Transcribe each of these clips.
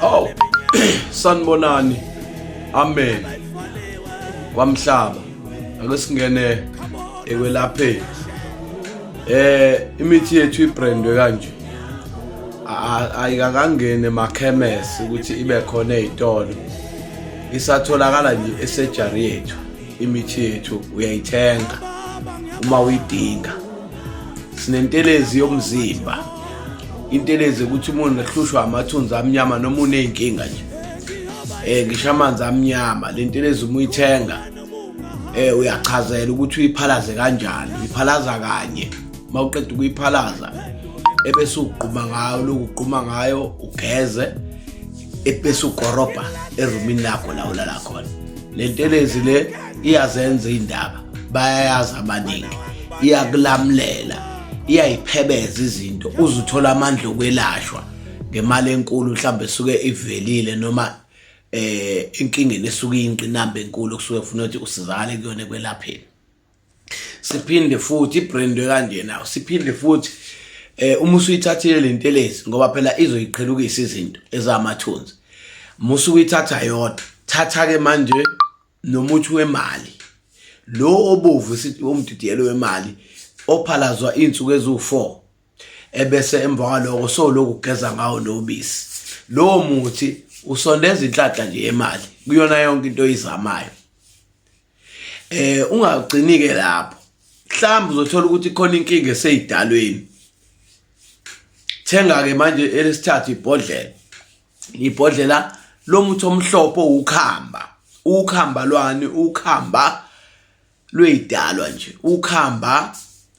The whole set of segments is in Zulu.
Oh, sanibonani. Amen. Kwamhlaba. Ake singene ekwelapheni. Eh, imithi yethu ibrandwe kanje. Ayikakangene emakhemesi ukuthi ibe khona ezitolo. Isatholakala nje esejari yethu. Imithi yethu uyayithenga uma uyidinga. sinentelezi yomzimba intelezi ukuthi umuntu ahlushwa amathunzi amnyama noma uneyinkinga nje eh ngisho amanzi amnyama lentelezi uma uyithenga eh uyachazela ukuthi uyiphalaze kanjani uyiphalaza kanye uma uqeda ukuyiphalaza ebese ugquma ngayo lokugquma ngayo ugeze ebese ukorobha erumini lakho la ulala khona le ntelezi le iyazenza iy'ndaba bayayazi abaningi iyakulamulela iyayiphebeza izinto uze uthole amandla okwelashwa ngemali enkulu mhlawumbe esuke ivelile noma eh inkingeni esuke iyinqinamba enkulu kusuke kufuna ukuthi usizakale kuyona ekwelapheni siphinde futhi ibrand kanjena siphinde futhi eh uma usuyithathile lentelezi ngoba phela izoyiqhelukisa izinto ezamathunzi musu uyithatha yodwa thatha ke manje nomuthi wemali lo obovu sithi umdidiyelo wemali ophalazwa izinsuku ezu4 ebese emva kwaloko so lokugeza ngawo nobisi lo muthi usondeza inhlanhla nje yemali kuyona yonke into oyizamayo eh ungagcini ke lapho mhlawumbe uzothola ukuthi khona inkinga eseyidalweni thenga ke manje elesithathu ibhodlela ibhodlela lomuthi omhlophe ukhamba ukhamba lwani ukhamba lweyidalwa nje ukhamba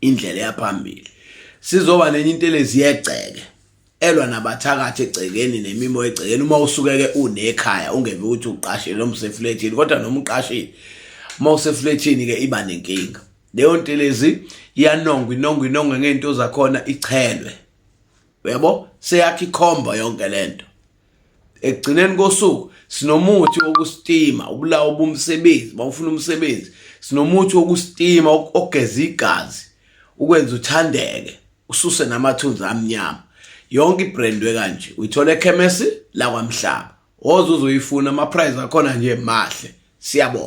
indlela eyaphambili sizoba nenye intelezi yegceke elwa nabathakathi egcekeni nemimo egcekeni uma usukeke unekhaya ungeve ukuthi uqashile noma useflethini kodwa noma uqashile uma useflethini ke iba nenkinga leyo ntelezi iyanongwa inongwa inongwe ngento zakhona ichelwe uyabo seyakhi khomba yonke lento ekugcineni kosuku sinomuthi wokusitima ubulawa ubumsebenzi bawufuna umsebenzi sinomuthi wokusitima ogeza igazi ukwenza uthandeke ususe namathunzi amnyama yonke ibrandwe kanje uyithola ekhemesi lakwamhlaba ozuze uyifuna ama price akhona nje mahle siyabona